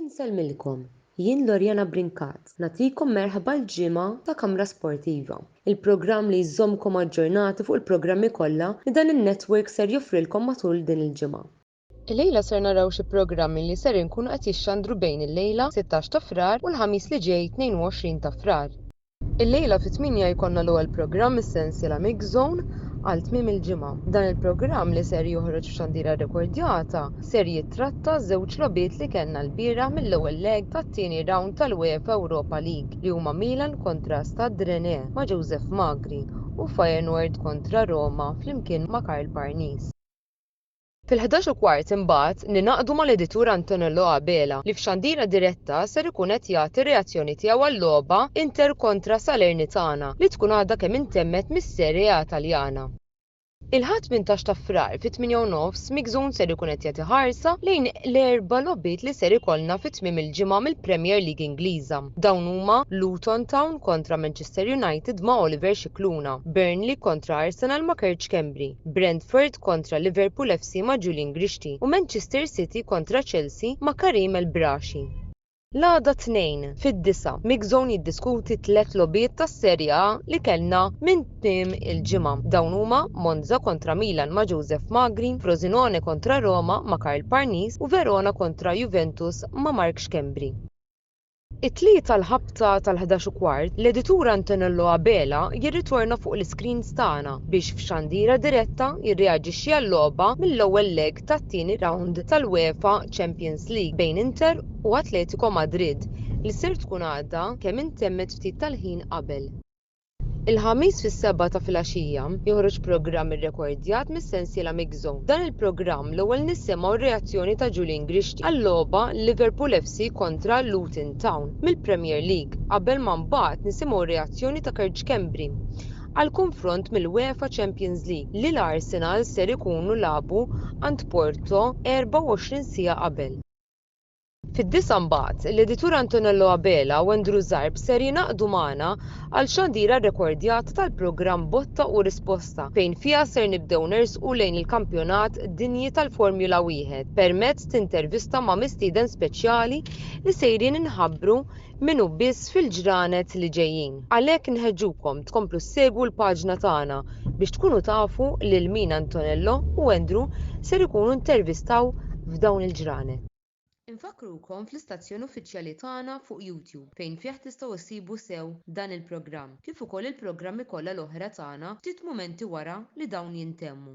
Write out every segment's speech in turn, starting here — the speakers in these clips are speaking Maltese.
Insellmilkom, jien Loriana Brincat, nagħtikom merħba l-ġimgħa ta' Kamra Sportiva, il-programm li jżommkom aġġornati fuq il-programmi kollha li dan in-network ser joffrilkom matul din il-ġimgħa. Illejla ser naraw xi programmi li ser inkunu qed jixxandru bejn illejla, 16 ta' Frar, u l-Ħamis li ġej, 22 ta' Frar. Illejla fit-tmienja jkollna l-ewwel programm mis-sensiela Mix Zone għal tmiem il-ġimgħa. Dan il-programm li ser joħroġ f'xandira rrekordjata ser jittratta ż-żewġ logħbiet li kellna lbieraħ mill-ewwel leg tat-tieni rawnd tal-UEFA Europa League li huma Milan kontra Stade Rennais ma' Joseph Magri u Feyenoord kontra Roma flimkien ma' Karl Parnis. Fil-ħdax u kwart imbagħad ningħaqdu mal-editur Antonello Abela li f'xandira diretta ser ikun qed jagħti r-reazzjoni tiegħu għal-logħba Inter kontra Salernitana li tkun għadha kemm intemmet mis-Serie A Taljana. Il-Ħadd tmintax ta' Frar fit-tmienja u nofs Mixun ser ikun qed jagħti ħarsa lejn l-erba' logħbiet li ser ikollna fi tmiem il-ġimgħa mill-Premier League Ingliża. Dawn huma Luton Town kontra Manchester United ma' Oliver Scicluna, Burnley kontra Arsenal ma' Kerċ Schembri, Brentford kontra Liverpool FC ma' Julian Grixti u Manchester City kontra Chelsea ma' Kareem El Brashi. L-għada t-Tnejn, fid-disgħa, MixZone jiddiskuti t-tliet logħbiet tas-Serie A li kellna minn tmiem il-ġimgħa. Dawn huma Monza kontra Milan ma' Joseph Magri, Frosinone kontra Roma ma' Karl Parnis u Verona kontra Juventus ma' Mark Schembri. It-Tlieta l-ħabta tal-ħdax u kwart, l-editur Antonello Abela jirritorna fuq l-iscreens tagħna biex f'xandira diretta jirreaġixxi għal-logħba mill-ewwel leg tat-tieni rawnd tal-UEFA Champions League bejn Inter u Atletico Madrid li ser tkun għadha kemm intemmet ftit tal-ħin qabel Il-Ħamis fis-sebgħa ta' filgħaxija, joħroġ programm irrekordjat mis-sensiela Mixo. F'dan il-programm, l-ewwel nisimgħu r-reazzjoni ta' Julian Grixti għal-logħba Liverpool FC kontra Luton Town mill-Premier League qabel ma mbagħad nisimgħu r-reazzjoni ta' Kerġ Schembri għall-kunfront mill-UEFA Champions League li l-Arsenal ser ikunu lagħbu għand Porto 24 siegħa qabel. Fid-disgħa mbagħad, l-editur Antonello Abela u Andrew Zarb ser jingħaqdu magħna għal xandira rrekordjata tal-programm Botta u Risposta fejn fiha ser nibdew nersqu lejn il-Kampjonat Dinji tal-Formula Wieħed permezz t'intervista ma' mistieden speċjali li sejrin inħabbru minnu biss fil-ġranet li ġejjin. Għalhekk nħeġġukom tkomplu ssegwu l-paġna tagħna biex tkunu tafu lil min Antonello u Andrew ser ikunu intervistaw f'dawn il-ġranet. Infakkrukom fl-istazzjon uffiċjali tagħna fuq YouTube fejn fih tistgħu issibu sew dan il-programm kif ukoll il-programmi kollha l-oħra tagħna ftit mumenti wara li dawn jintemmu.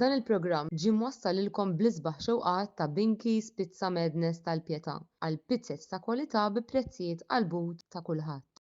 Dan il-programm ġie mwassal lilkom bl-isbaħ xewqat ta' Binky's Pizza Madness tal-Pietà għal pizzez ta' kwalità bi prezzijiet għall-but ta' kulħadd.